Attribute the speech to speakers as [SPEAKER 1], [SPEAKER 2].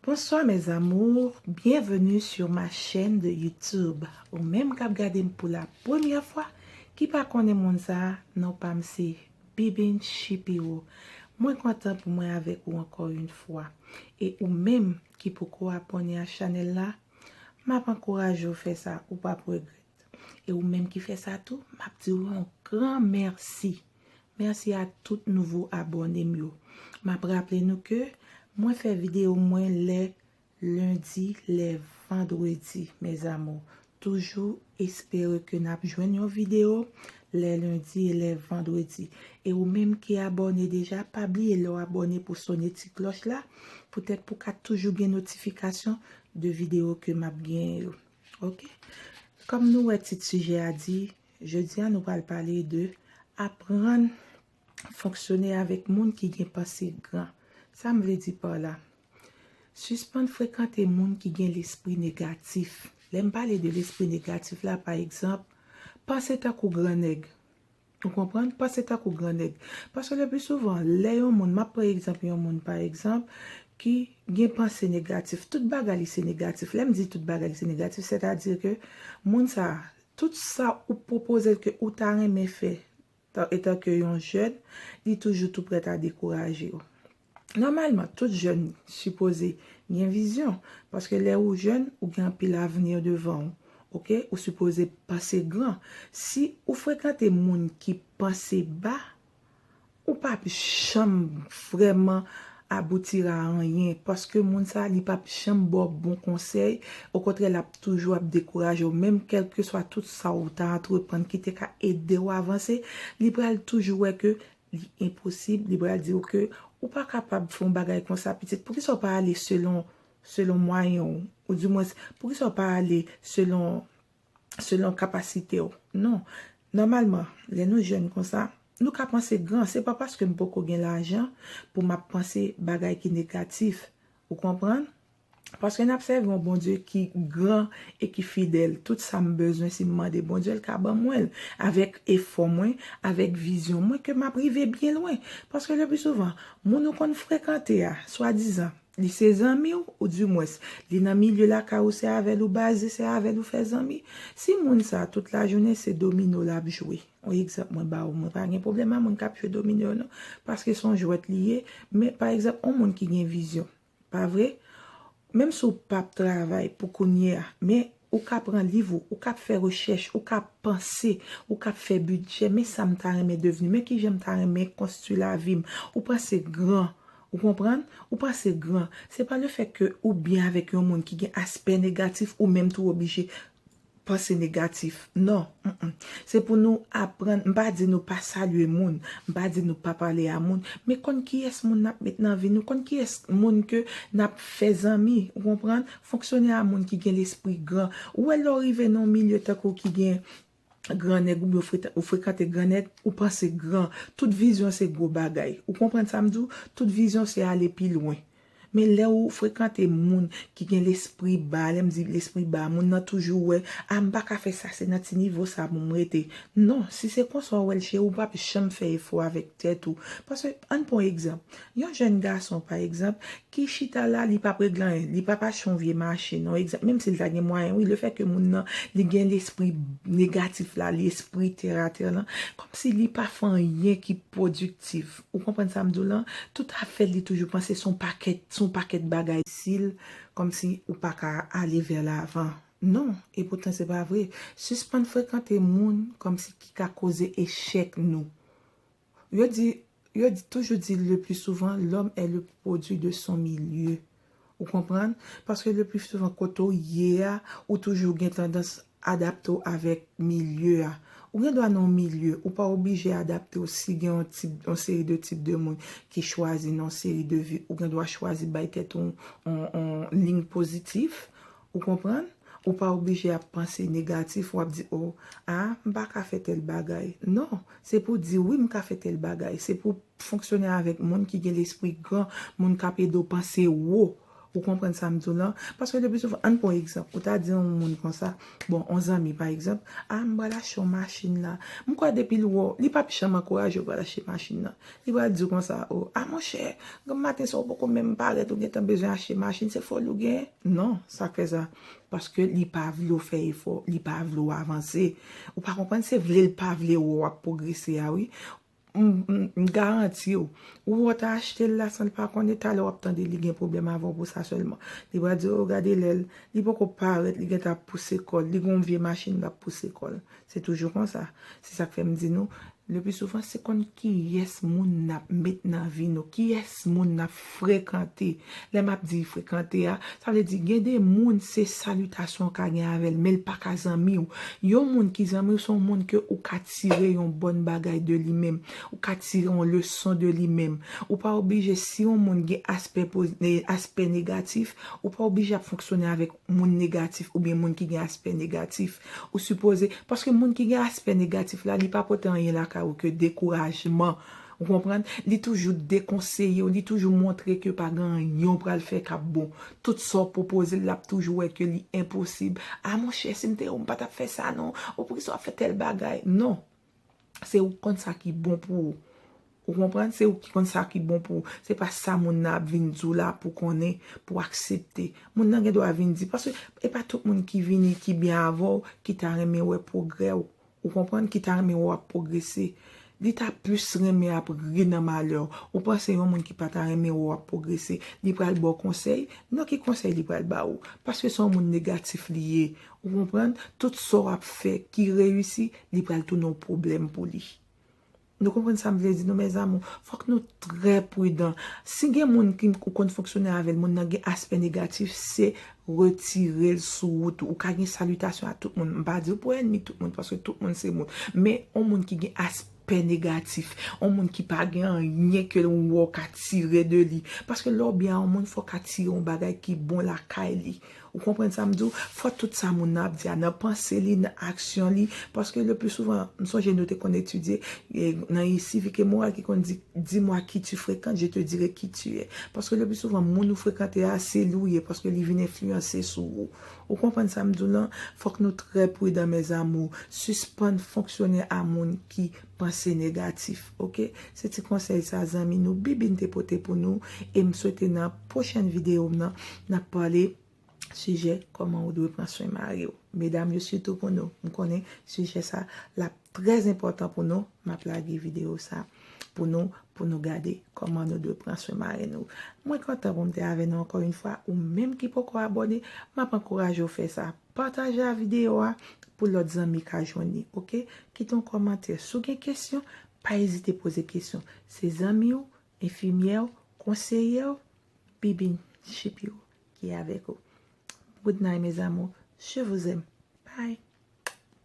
[SPEAKER 1] Bonsoir mes amours bienvenue sur ma chaîne de YouTube ou menm kap gadem pou la premyè fwa ki pa konnen moun sa non pam se Bibin Shipiro mwen kontan pou mwen avèk ou ankò yn fwa e ou menm ki poko abòne a chanèl la map ankouraje ou fè sa ou pap regrèt e ou menm ki fè sa tou map diw yon gran merci. Merci a tout nouvo abòne m yo. Map raple nou ke mwen fè video mwen lè lundi lè vendredi mes amours. Toujou espere ke nap jwenn yon video lè lundi e lè vendredi. E ou menm ki abòne deja pa bliye lè w abòne pou sone ti klòch la poutèt pou ka toujou gen notifikasyon de video ke map gen yo. Ok. Kòm nou wè tit sijè a di Jodi a nou pral pale de aprann fonksyone avèk moun ki gen panse gran. Sam vle di par la? Sispann frekante moun ki gen lespri negatif. Lèm pale de lespri negatif la pa egzanp, panse tankou gran nèg. Ou konprann? Panse tankou gran nèg. Paske le pli souvan, lè yon moun, map pran egzanp yon moun pa egzanp, ki gen panse negatif, tout bagay li se negatif. Lèm di tout bagay li se negatif, sètadi ke moun sa, Tout sa ou pwopoze l ke ou ta renmen fè etanke yon jèn, li toujou tou prèt a dekouraje w. Nòmalman, tout jèn sipoze gen vizyon, paske lè ou jèn, ou gen anpil avni devan w, ok, ou sipoze panse gran. Si ou frekante moun ki panse ba, Ou pap janm vrèman aboutir a anyen paske moun sa li pap janm ba w bon konsèy, okontrè l ap toujou ap dekouraje w menm kèlkeswa tout sa w ta antreprann ki te ka ede w avanse, li pral toujou wè ke li enposib, li pral di w ke ou pa kapab fè yon bagay konsa pitit, poukisa w pa ale selon selon mwayen w, ou dimwens poukisa w pa ale selon selon kapasite w. Non. Nòmalman, lè nou jèn konsa, nou ka panse gran. Se pa paske m poko gen lajan pou m ap panse bagay ki negatif. Ou konprann? Paske n ap sèvi yon Bondye ki gran e ki fidèl. Tout sa m bezwen, si m mande Bondye, l ka ban mwen l. Avèk efò mwen, avèk vizyon mwen, ke m ap rive byen lwen. Paske leplisouvan, moun ou konn frekante a, swadizan, Li se zanmi w, ou di mwens, li nan milye lakay ou se avè l ou baze, se avè l ou fè zanmi. Si moun sa a tout lajounen se domino l ap jwe, yon egzanp mwen ba ou, mwen pa gen pwoblèm a moun k ap jwe domino yo non, paske se yon jwèt li ye, men pa egzanp yon moun ki gen vizyon, pa vre? Menm si w p ap travay pou kounye a, men Ou ka pran liv ou, ou ka ap fè rechèch, ou ka ap panse, ou ka ap fè bidjè, men sa m ta renmen devni, men ki jan m ta renmen konstwi lavi m. Ou panse gran, ou konprann? Ou panse gran. Se pa le fèt ke ou byen avèk yon moun ki gen aspè negatif, ou menm tou oblije panse negatif. Non, m. Se pou nou aprann, m pa di nou pa salye moun, m pa di nou pa pale a moun, men konn kiyès moun n ap met nan vi nou, konn kiyès moun ke n ap fè zanmi, ou konprann, Fonksyonè a moun ki gen lespri gran. Ou wè lè w rive nan yon milye tankou ki gen gran nèg oubyen ou frekante gran nèg, ou panse gran. Tout vizyon se gwo bagay. Ou konprann sa m di w? Tout vizyon se ale pi lwen. Men lè ou frekante moun ki gen lespri ba, lè m di lespri ba, moun nan toujou wè, a m pa ka fè sa, se nan ti nivo sa pou m rete. Non, si se konsa w wè l cheri, ou pap janm fè efò avèk tèt ou. Paske, ann pran yon egzanp. Yon jèn gason, pa egzanp, ki chita la li pap regle anyen li pap achte yon vye machin yon egzanp menm si li ta gen mwayen wi le fè ke moun nan li gen lespri negatif la li espri tèratè lan kòm si li pa fè anyen ki pwodiktif ou konprann sa m di w lan tout afè l li toujou panse son pakèt son pakèt bagay si l kòm si ou pa ka ale vè lavan non e poutan se pa vre sispann frekante moun kòm si ki ka koze echèk nou Yo di, yo toujou di le pli souvan lòm è le pwodwi de son milye. Ou konprann? Paske le pli souvan kote w ye a, ou toujou gen tandans adapte w avèk milye a. Ou gen dwa nan yon milye, ou pa oblije adapte w si gen yon tip, yon seri de tip de moun ki chwazi nan yon seri de vi, ou gen dwa chwazi bay tèt ou yon, yon, yon liy pozitif. Ou konprann? Ou pa oblije ap panse negatif, ou ap di o, a, m pa ka fè tèl bagay. Non, se pou w di wi m ka fè tèl bagay. Se pou w fonksyone avèk moun ki gen lespri gran, moun k ap ede w panse wo. Ou konprann sa m di w lan? Paske le pli souvan, ann pran yon egzanp, ou ta di yon moun konsa, bon, yon zanmi pa egzanp, a, m pral achte yon machin la. M kwè depi l wè w, li pap janm ankouraje w pou w al achte machin nan. Li pral di w konsa, oh, ah monchè, granm maten sa ou poko menm parèt ou gentan bezwen achte machin, se foli ou gen? Non, sa k fè sa? Paske li pa vle w fè efò, li pa vle w avanse. Ou pa konprann, se vle l pa vle wè w ap pwogrese a wi. M garanti w, ou wè w ta achte l la san l pa konnen, talè w ap tande li gen pwoblèm avè w pou sa sèlman. Li pral di, oh, gade lè l, li poko parèt, li gentan ap pouse kò l, li gen yon vye machin l ap pouse kò l. Se toujou konsa. Se sa k fè m di nou, leplisouvan se konn kiyès moun n ap met nan vi nou, kiyès moun n ap frekante. Lè m ap di frekante a, sa vle di gen de moun se salitasyon w ka gen avè l men l pa ka zanmi w. Yon moun ki zanmi w se yon moun ke ou ka tire yon bòn bagay de li menm, ou ka tire yon leson de li menm. Ou pa oblije si yon moun gen aspè aspè negatif, ou pa oblije ap fonksyone avèk moun negatif oubyen moun ki gen aspè negatif. Ou sipoze, paske moun ki gen aspè negatif la, li pa pote anyen lakay ou ke dekourajman. Ou konprann? Li toujou dekonseye ou, li toujou montre ke pa gen anyen ou pral fè k ap bon. Tout sa w pwopoze l, l ap toujou wè ke li enposib. A monchè, si m te ou, m pa t ap fè sa non. Ou poukisa w ap fè tèl bagay? Non. Se ou ki konn sa ki bon pou ou. Ou konprann? Se ou ki konn sa ki bon pou ou. Se pa sa moun nan ap vin di w la pou konnen, pou aksepte. Moun nan gen dwa vin di. Paske e pa tout moun ki vini, ki byen avè w, ki ta renmen wè pwogrè w. Ou konprann? Ki ta renmen wè w ap pwogrese. Li ta plis renmen ap ri nan malè w. Ou panse yon moun ki pa ta renmen wè w ap pwogrese, li pral ba w konsèy? Non ki konsèy li pral ba ou? Paske se yon moun negatif li ye. Ou konprann? Tout sa w ap fè ki reyisi, li pral tounen yon pwoblèm pou li. Nou konprann sa m vle di nou mèzamou? Fòk nou trè pridan. Si gen moun ki ou konn fonksyone avè l, moun nan gen aspè negatif, se retire l sou wout ou. Ou ka gen salitasyon ak tout moun. M pa di w pou ènmi tout moun, paske tout moun se moun. Men yon moun ki gen aspè. Pè negatif, yon moun ki pa gen anyen ke ou wè ou ka tire de li. Paske lè ou byen a yon moun fò ou ka tire yon bagay ki bon lakay li. Ou konprann sa m di w? Fò tout sa moun nan ap di a, nan panse li, nan aksyon li, paske le pli souvan, m sonje nou te konn etidye, nan sivik e moral ki konn di, Di mwa ki tu frekant, je te dire ki tu è. Paske le pli souvan moun ou frekante a, se li w ye, paske li vin enfliyanse sou ou. Ou konprann sa m di w lan? Fòk nou trè pridan mes amours, sispann fonksyone a moun ki panse negatif ok. Se ti konsèy sa zanmi nou BBin te pote pou nou e m swete nan pwochèn videyo m nan n ap pale sijè kòman ou dwe pran swen mari w. Medam yo sitou pou nou, m konnen sijè sa l ap. Trè enpòtan pou nou, m ap lage videyo sa pou nou, pou nou gade kòman nou dwe pran swen marenn nou. Mwen kontan pou m te avè nou ankò yon fwa, ou menm ki poko abòne, m ap ankouraje w fè sa. Pataje a videyo a pou lòt zanmi ka jwenn li, ok? Kite yon kòmantè. Si w gen kesyon, pa ezite poze kesyon. Se zanmi w, enfimyè w, konseyè w, bibin, chipi w ki avèk ou. Goodnight mes amours, je vous aime. Bye!